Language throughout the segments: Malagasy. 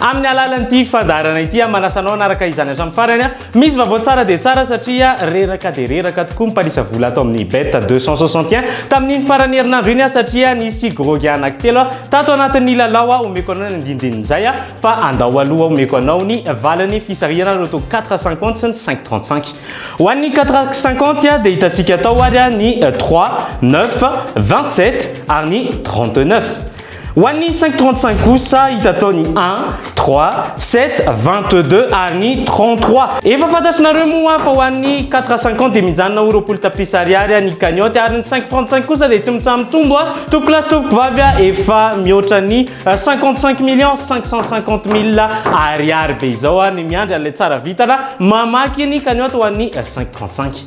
Amin'ny alalan'ity fandaharana ity aho manasa anao hanaraka izany hatramin'ny farany a. Misy vaovao tsara dia tsara satria reraka dia reraka tokoa ny mpanisa vola ato amin'ny Bet 261 tamin'iny faran'ny herinandro iny aho satria nisy grogy anankitelo aho tato anatin'ny lalao aho omeko anao ny andinindin'izay aho fa andao aloha omeko anao ny valin'ny fisarihana loto 450 sy ny 535 ho an'ny 450 dia hitantsika atao ary ny 3 9 27 ary ny 39 Ho an'ny cinq trente cinq kosa hita tao ny un, trois, sept, vingt deux ary ny trente trois. Efa fantatrinareo moa fa ho an'ny quatre cinquante dia mijanona ho roapolo tapitrisa ariary ny cagnotte ary ny cinq trente cinq kosa dia tsy mitsaha-mitombo a! Tompokolahy sy tompokovavy a! Efa mihoatra ny cinquante cinq millions cinq cent cinquante mille ariary be izao a! Ny miandry an'ilay tsara vintana mamaky ny cagnotte ho an'ny cinq trente cinq.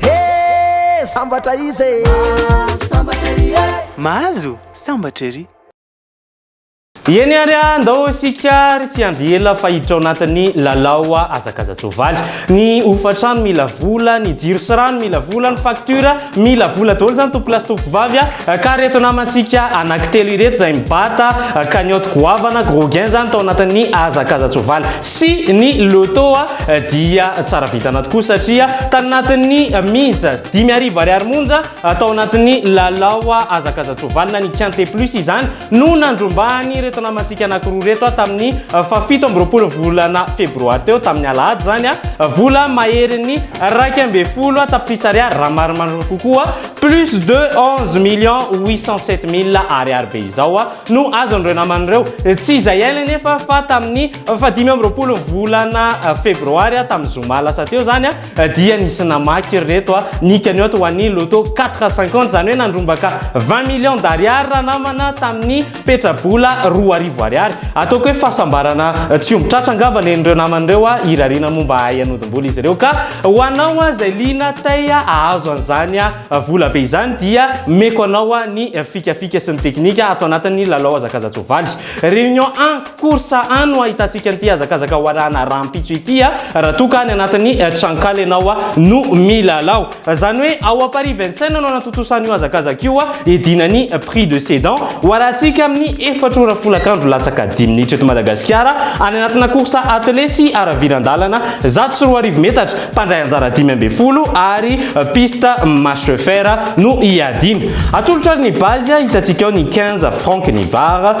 Hee sambatra izy e! Mahazo sambatra ery e! Mahazo sambatra ery! Eny ary a, ndao isika ary tsy hiandry ela fa hiditra ao anatin'ny lalao hazakaza-tsoavaly. Ny hofantrano mila vola, ny jiro sy rano mila vola, ny facture, Mila vola daholo zany tompolahy sy tompovavy a! Ka reto namantsika anaky telo ireto zay mibata cagnotte goavana gros gain zany tao anatin'ny hazakazan-tsoavaly sy ny loto a! Dia tsara vintana tokoa satria tany anatin'ny mise dimy arivo ariary monja tao anatin'ny lalao hazakazan-tsoavaly na ny quinte plus izany no nandrombahany ireto namantsika anankiroa ireto aho tamin'ny fahafito amby roapolo volana febroary teo tamin'ny alahady izany aho vola maherin'ny iraika ambin'ny folo tapitrisa ariary raha marimarina kokoa plus de onze millions huit cent sept mille ariary be izao aho no azon'ireo namany ireo tsy izay hainy anefa fa tamin'ny fahadimy amby roapolo volana febroary aho tamin'ny zoma lasa teo izany aho Dia nisy namaky ry reto a, ny cagnotte ho an'i Lotto 450, izany hoe nandrombaka vingt millions d'ariary ranamana tamin'ny petra-bola roa arivo ariary. Ataoko hoe fahasambarana tsy omby tratra angamba nen'ireo namany ireo a, hirariana moa mba hahay hanodim-bola izy ireo. Ka ho anao a izay liana tay hahazo an'izany a vola be izany dia meko anao a ny fikafika sy ny teknika ato anatin'ny lalao hazakaza-tsoavaly. Réunion un. Course A no ahitantsika an'ity hazakazaka warana rahampitso ity raha toa ka any anatin'ny tranonkala ianao no milalao. Izany hoe ao à Paris Vincennes no anatontosa an'io hazakazaka io hiadiana ny prix de sedan warantsika amin'ny efatra ora folakandro latsaka dimy minitra eto Madagasikara any anatina course attelée sy haraviran-dalana zato sy roa arivo metatra mpandray anjara dimy ambin'ny folo ary piste marche fer no hiadiana. Atolotro ary ny base hitantsika ao ny quinze francs ny var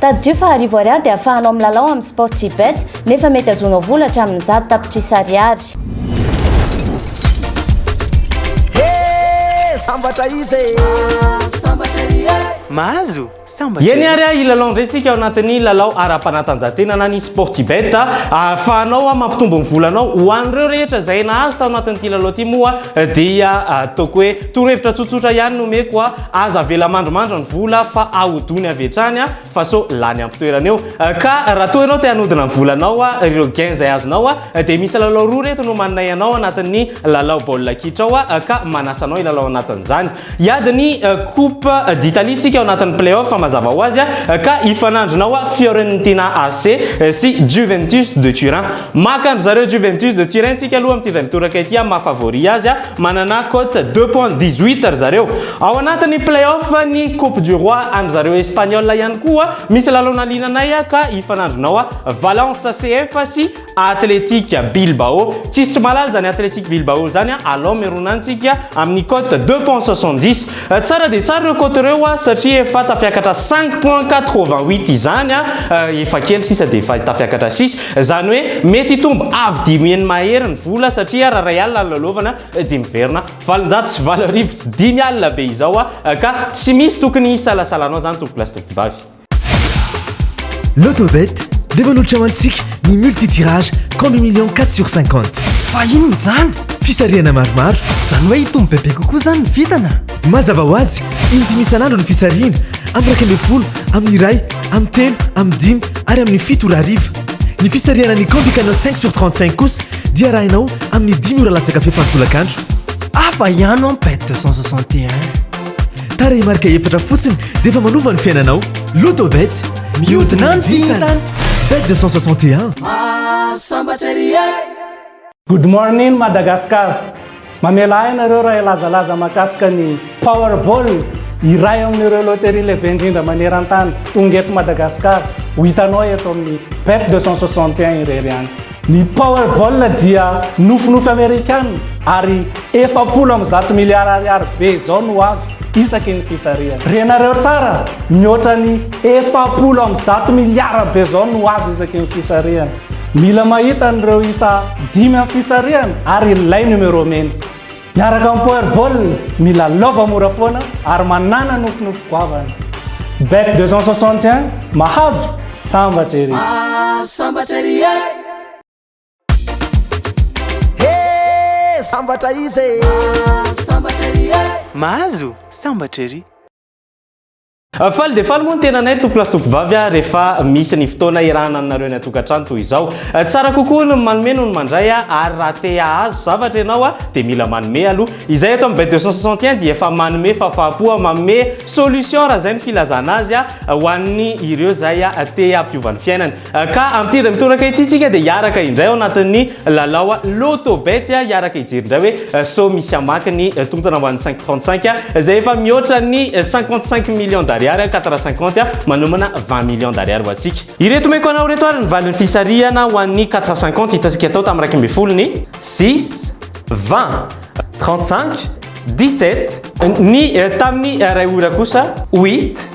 Tadidio fa arivo ariary dia afahanao milalao amin'ny Sportybet, nefa mety azonao vola hatramin'ny zato tapitrisa ariary. Sambatra izy e! Sambatra ry e! Mahazo? Sambatra e! Eny ary a, hilalao indray isika ao anatin'ny lalao ara-panatanjahantena na ny Sportybet. Ahafahanao mampitombo ny volanao. Ho an'ireo rehetra izay nahazo tao anatin'ity lalao ity moa dia ataoko hoe torohevitra tsotsotra ihany no omeko. Aza avela mandrimandry ny vola fa ahodony avy hatrany fa sao lany am-pitoerana eo. Ka raha toa ianao te hanodina ny volanao, ireo gains izay azonao dia misy lalao roa ireto no manome anao anatin'ny lalao baolina kitra ao ka manasa anao hilalao anatin'izany. Hiady ny coupe d'Italie tsika ao anatin'ny play-off mazava ho azy ka hifanandrinao Fiorentina AC sy Juventus de Turin. Maka an-dry zareo Juventus de Turin tsika aloha amin'ity indray mitoraka ity maha favori azy. Manana cote deux points dix huit ry zareo. Ao anatin'ny play-off ny coupe du roi an-dry zareo Espagnols ihany koa. Misy lalao naliananay ka hifanandrinao a Valence CF sy Athletic Bilbao. Tsisy tsy mahalala izany Athletic Bilbao izany a. Alao mirona antsika amin'ny cote deux points soixante dix. Tsara dia tsara ireo cote ireo a satria efa tafiakatra cinq points quatre vingt huit izany a. Efa kely sisa dia efa tafiakatra sisa. Izany hoe mety hitombo avo dimy heny mahery ny vola satria raha iray alina no lalaovana dia miverina valonjato sy valo arivo sy dimy alina be izao aho ka tsy misy tokony hisalasalanao izany tompokolahy sy tompokovavy. Lotobet dia manolotra ho antsika ny multi-tirage combi millions quatre sur cinquante. Fa inona izany? Fisarihana maromaro. Izany hoe hitombo bebe kokoa izany ny vintana? Mazava ho azy, indimy isan'andro ny fisarihina, amin'ny iraika ambin'ny folo, amin'ny iray, amin'ny telo, amin'ny dimy ary amin'ny fito ora hariva. Ny fisarihana ny Candy Canal 5 sur 35 kosa dia arahinao amin'ny dimy ora latsaka fefy an-tolakandro. Hafa ihany ho'a Pet 261. Tarehimarika efatra fotsiny dia efa manova ny fiainanao. Lotobet, mihodina ny vintana! Bet 261. Mahasambatra ery e! Good morning Madagascar! Mamela ahy nareo raha hilazalaza mahakasika ny Powerball, iray amin'ireo loterie lehibe indrindra maneran-tany, tonga eto Madagasikara, ho hitanao eto amin'ny Bet 261 irery any. Ny Powerball dia nofinofy Amerikana ary efapolo amby zato miliara ariary be izao no azo isaky ny fisarihana. Renareo tsara, mihoatra ny efapolo amby zato miliara be izao no azo isaky ny fisarihana. Mila mahita an'ireo isa dimy amin'ny fisarihana ary ilay numéro mena. Miaraka amin'ny Powerball, mila lova mora foana ary manàna nofinofy goavana. Bet 261, mahazo, sambatra ery! Mahazo, sambatra ery e! He, sambatra izy e! Mahazo, sambatra ery e! Mahazo, sambatra ery! Faly dia faly moa ny tenanay Tompo Lasopy Vavy a, rehefa misy ny fotoana iarahana aminareo any an-tokantrano toy izao. Tsara kokoa ny manome noho ny mandray a, ary raha te hahazo zavatra ianao a, dia mila manome aloha. Izahay eto amin'ny Bay 261 dia efa manome fafahapo a, manome solution raha izay ny filazana azy a, ho an'ny ireo izay a te hampiova ny fiainany. Ka amin'ity indray mitoraka ity tsika dia hiaraka indray ao anatin'ny lalao loto bet hiaraka hijery indray hoe sao misy hamaky ny tontona ho an'ny 535 izay efa mihoatra ny 55 millions d'ariary 450 manomana 20 millions d'ariary ho antsika. Ireto omeko anao ireto ary ny valin'ny fisarihana ho an'ny 450 hitantsika tao tamin'ny iraika ambin'ny folo ny 6, 20, 35, 17, ny tamin'ny iray ora kosa 8,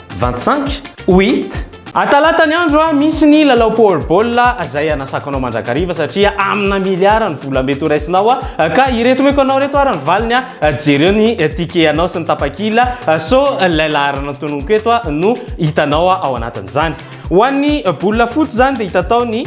Vingt cinq? Oit! A Talata ny andro a, misy ny lalao Power Ball a, zay anasako anao mandrakariva satria amina miliara ny vola mety ho raisinao a, ka ireto omeko anao ireto ary ny valiny a, jereo ny ticket anao sy ny tapakila so ilay laharana tononiko eto a no hitanao ao anatin'izany. Ho an'ny bola fotsy zany dia hitatao ny.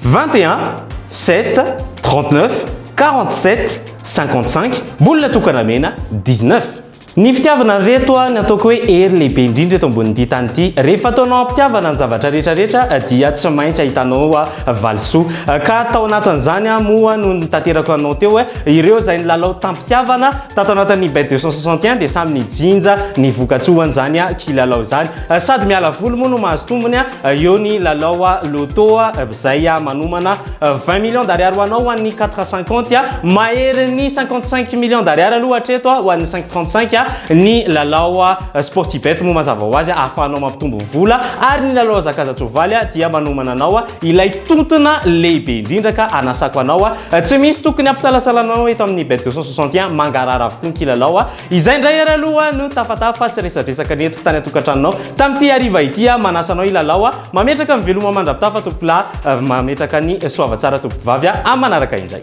Vingt et un, sept, trente neuf, quarante sept, cinquante cinq, bola tokana mena, dix neuf. Ny fitiavana ry reto a, ny ataoko hoe hery lehibe indrindra eto ambonin'ity tany ity. Rehefa ataonao am-pitiavana ny zavatra rehetra rehetra dia tsy maintsy ahitanao valisoa. Ka tao anatin'izany aho moa no nitaterako anao teo. Ireo izay nilalao tam-pitiavana tato anatin'ny bet 261 dia samy nijinja ny voka-tsoan'izany kilalao izany. Sady miala voly moa no mahazo tombony, eo ny lalao loto izay manomana 20 millions d'ariary ho anao ho an'ny 4,50 a, mahery ny 55 millions d'ariary aloha hatreto a, ho an'ny 5,35 a, ny lalao Sportibet moa mazava ho azy a, ahafahanao mampitombo vola, ary ny lalao Zakazatsoavaly a, dia manomana anao a, ilay tontona lehibe indrindra ka anasako anao a, tsy misy tokony hampisalasalanao eto amin'ny Bet 261, mangarahara avokoa ny kilalao a, Izay indray ary aloha no tafatafa sy resadresaka nentiko tany an-tokantranonao tamin'ity hariva ity aho. Manasa anao hilalao aho. Mametraka ny veloma mandra-pitafa tompokolahy. Mametraka ny soavatsara tompokovavy aho. Amin'ny manaraka indray.